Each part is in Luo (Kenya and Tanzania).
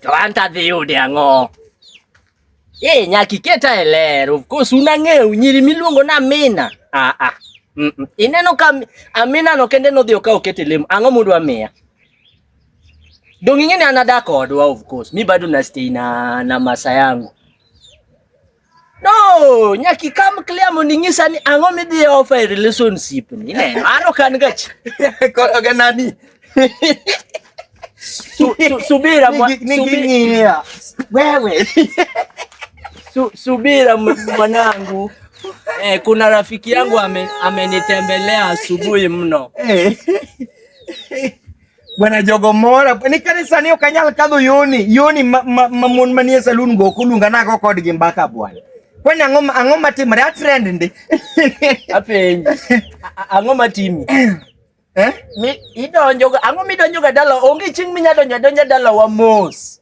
To anta dhi yude ang'o? Eh, nyaka iket e ler. Of course unang'eyo nyiri miluongo na Amina. Ah ah. Mm -mm. Ineno ka Amina no kende nodhi okawo kete lemo. Ang'o mundu amiya? Dong ing'e ni anada kodwa of course. Mi bado na stay na na masa yangu. No, nyaki kam clear mondo inyisa ni ang'o midhi offer e relationship ni. Ineno, an ok an gachi. Koro ga nani? Su- su- Subira mwa- Nigi- nigi subi- ng'iya. Wewe. su- subira m- mwanangu. Eh, kuna rafiki yangu ame- amenitembelea asubuhi mno. Eh. Bwana jogo mora ni kanisa ni okanyal kadho yoni yoni ma, ma, ma mon manie saloon go kulunga nago kodgi mbaka bwana kwani ang'o ang'o matimre a trend ndi apenji ang'o matimi eh mi idonjo ang'o midonjo ga dala onge ching minya donjo donja dala wa mos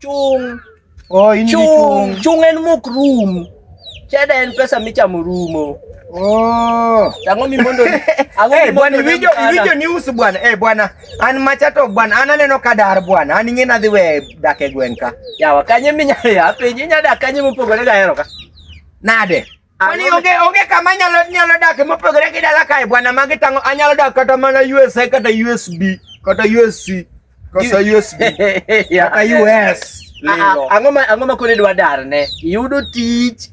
Chung'. Oh, in gi Chung'. Chung' en mok rum. Cheda en pesa michamo rumo. Oh. Tango mi mondo ango hey, bwana iwinjo iwinjo news bwana. Eh hey, bwana an machato bwana an aneno kadar bwana. An ing'e nadhi we dak e gweng' ka. Yawa kanye minyalo ya penye nyada kanye mopogore ga hero ka. Nade? Kwani onge onge kama nyalo nyalo dak mopogore gi dala kae bwana magi tango anyalo dak kata mana USA kata USB kata USC kata USB kata US. Ah, ah, ang'o ma ang'o ma kone dwa dar ne? Yudo tich.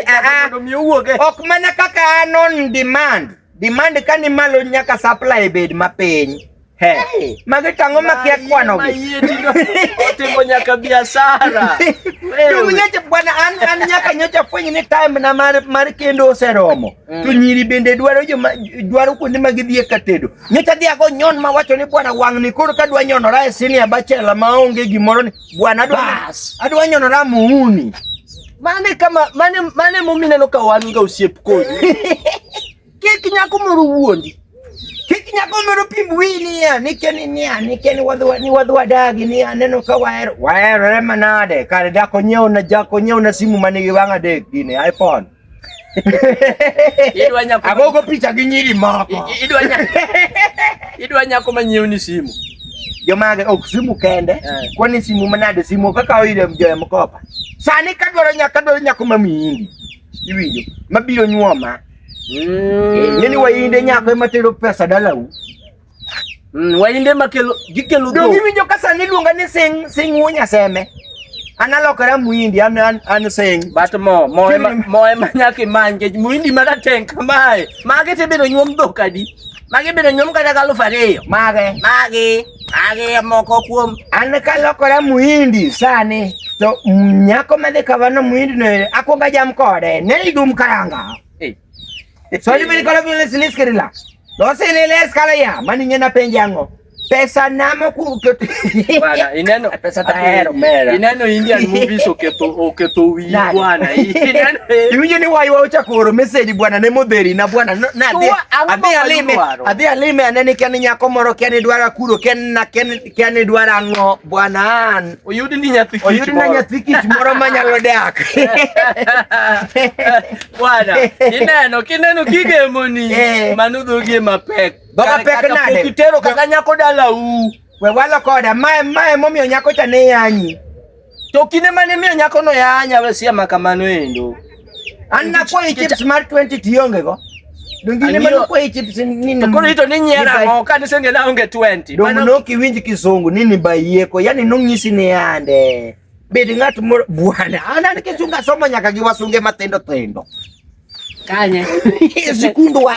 Ah, ok mana kaka an on demand. Demand ka ni malo nyaka supply bed mapiny. He. Hey. Magi tang'o makia kwano gi. Otimo nyaka biashara. Wewe. Nyocha bwana an an nyaka nyocha fwenye ni time na mar mar kendo oseromo. Mm. To nyiri bende dwaro jo dwaro kuonde ma gidhie ka tedo. Nyocha dhi ago nyon ma wacho ni bwana wang'ni koro ka dwa nyonora e sini abachela ma onge gimoro ni Bwana bas. Adwa nyonora muuni. Mane kama mane mane mumi neno ka wan ga osiep kodi. Kik nyako moro wuondi. Kik nyako moro pim wini ya nikeni niya nikeni wadwa ni wadwa dagi ni aneno ka waer waerore manade kare dako nyeo na jako nyeo na simu mane gi wanga dek gini iPhone. Idwa nyako agogo picha gi nyiri moko. Idwa nyako. Idwa nyako manyiew ni simu. Jomage ok simu kende. Eh. Kwani simu manade simu kaka oyire mjoya mkopa. Sani kadwaro nyako kadwaro nyako mamiyindi. Iwinjo mabiro nyuoma. Mm. Nini wayinde nyako ema tero pesa dalau. Mm, wainde makelo gikelo dhok. Giwinjo ka sani iluonga ni sing sing wuo nyaseme. An alokora muhindi an an, an sing. But mo mo ema mo ema nyaka imany kech muhindi ma rateng kamae. Mage te biro nyuom dhok adi? Mage biro nyuom kata ka aluf ariyo. Mage. Mage. Mage moko kuom. An ka alokora muhindi sani to nyako madhi kavano muhindi no akwonga jam kode. Ne idum karanga. Swali mimi nikola vile sinisikirila. Lose ni ile skala ya mani nyena penje yango. Pesa namo ku bwana ineno pesa tahero mera. Ineno Indian movies oketo oketo wi bwana. Ineno yunyo ni wayo ucha koro message bwana ne modheri na bwana na adhi alime adhi alime anene kani nyako moro kani dwara kuro ken na ken Kiani dwaro ang'o bwana an? Oyudi ni nyathi kich. Oyudi na nyathi kich moro manyalo dak. Bwana, ineno kineno kigemoni eh. mano dhogie mapek. Dhoga pek nade? Pok itero kata nyako dala u. We walo koda mae mae momiyo nyako cha ne yanyi. To kinde mane miyo nyako no yanya we sia makamano endo. An na kwa chips mar 20 tionge go. Dongine mano kwa chips nini? To koro ito ni nyera ngo ka ni senge na onge 20. Domo no kiwinji kizungu nini bayeko yani nongisi ni ande. Bedi ng'at moro bwana. Ana nikisunga somo nyaka giwasunge matendo tendo. Kanye. Sikundu wa.